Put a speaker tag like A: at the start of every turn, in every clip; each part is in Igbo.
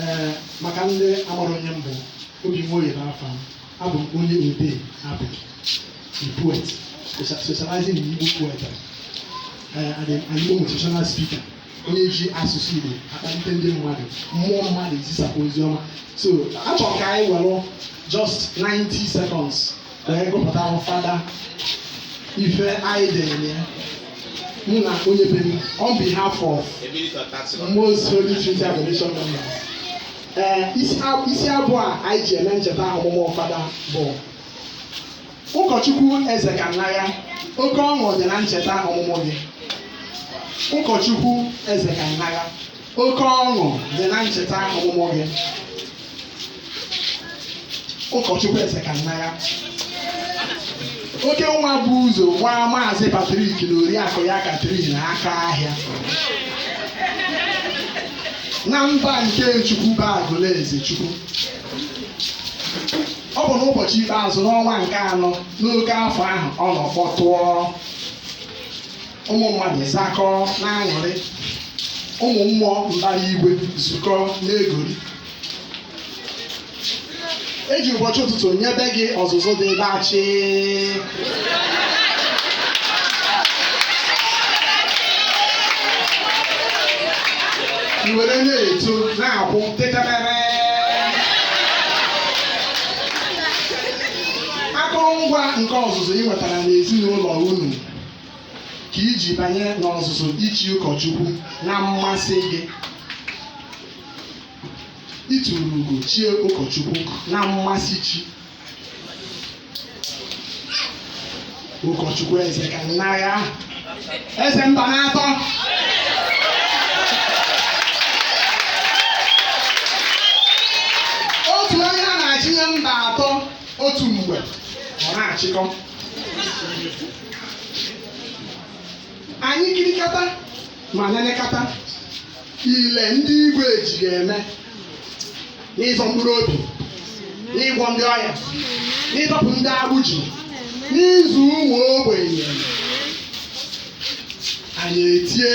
A: ee maka ndị amarọ onye m bụ obi nwoye bụ afa m abụ m onye odee abụ a poet specia- specializing in Igbo poetry ee and an Igbo motivational speaker onye ji asụsụ Igbo akpalite ndị mmadụ mmụọ mmadụ ezisapụ ozi ọma so achọrọ ka anyị were just 90 seconds anyị gụpụtara fada ife anyị dere ya mụ na onye be m on behalf of most holy trinity adoration members ee isi ab- isi abụ a anyị ji eme ncheta ọmụmụ fada bụ ụkọchukwu eze ka nna ya oke ọṅụ dị na ncheta ọmụmụ gị ụkọchukwu eze ka nna ya Oke ọṅụ dị na ncheta ọmụmụ gị. Ụkọchukwu Eze ka nna ya. Oke nwa bu ụzọ gbaa Maazị Patrik na Oriakụ ya Katrin aka ahịa. Na mba nke Chukwu bụ Agụlụezechukwu. Ọ bụ n'ụbọchị ikpeazụ n'ọnwa nke anọ n'oke afọ ahụ ọṅụ kpọtụọ ụmụ mmadụ zakọọ na-aṅụrị ụmụ mmụọ mbara igwe zukọ na-egori e ji ụbọchị ụtụtụ nyebe gị ọzụzụ dị dachị i were na-eto na-akwụ tetemere akụrụngwa nke ọzụzụ ị nwetara n'ezinụlọ unu ka i ji banye n'ọzụzụ ichi ụkọchukwu na mmasị gị i turu ugo chie ụkọchukwu na mmasị chi ụkọchukwu eze ka nna ya eze mba na atọ otu onye a na-achị mba atọ otu mgbe ọ na-achịkọ anyị kirikata ma nenekata ile ndị igwe ji gị eme n'ịzọ mkpụrụ obi n'ịgwọ ndị ọya n'ịdọpụ ndị agbụ ji n'ịzụ ụmụ ogbenye nri anyị etie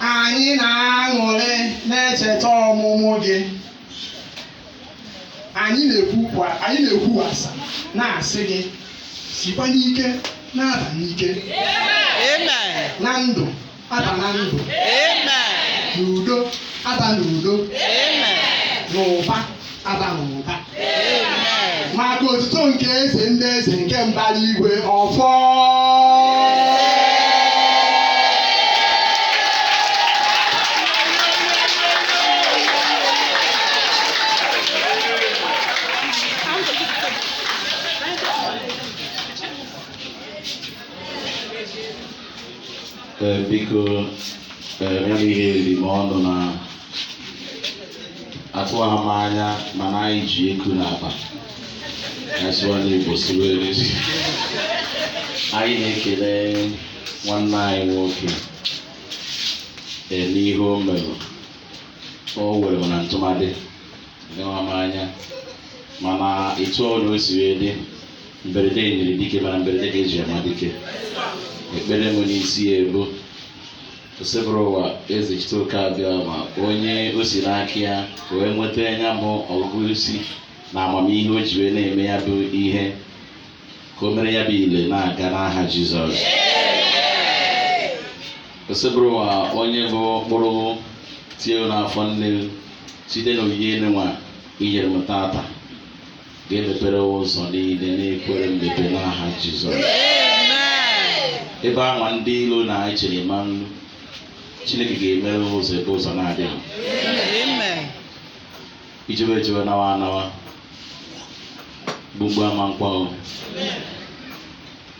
A: Anyị na-aṅụrị na-echeta ọmụmụ gị. Anyị na-ekwuwasa na-asị gị sikwa n'ike na-aba n'ike. Na ndụ aba na ndụ. N'udo aba n'udo. N'ụba agbanweghị ụba maka otito nke eze ndị eze nke mbara igwe ọfọ Ee, biko ee, ya bụ ihe riri m ọnụ na atụghị m anya mana anyị ji eku n'akpa asụwa n'igbo siwe erezi anyị na-ekele nwanne anyị nwoke eme ihe o mere o were m na ntụmadị gawa m anya mana etu ọbụla o siri dị mberede nyiri dike mana mberede ka e ji ama dike ekpere m n'isi ya bụ Osebụrụwa Ezechiteoke Abịama onye o si n'aka ya wee nweta ya bụ ọgụgụ isi na amamihe o ji wee na-eme ya bụ ihe ka o mere ya dị ile na-aga n'aha Jizọs Osebụrụwa onye bụ mkpụrụ tie n'afọ nne site n'onyinye nunwa i nyere m tata ga-emepere ụzọ niile na-ekwerọ mmepe n'aha Jizọs ebe anwa ndị ilo na-echere ma nnu Chineke ga-emere ụzọ ebe ụzọ na-adịghị i jewe ejewe nawa anawa gbugbu ama nkwa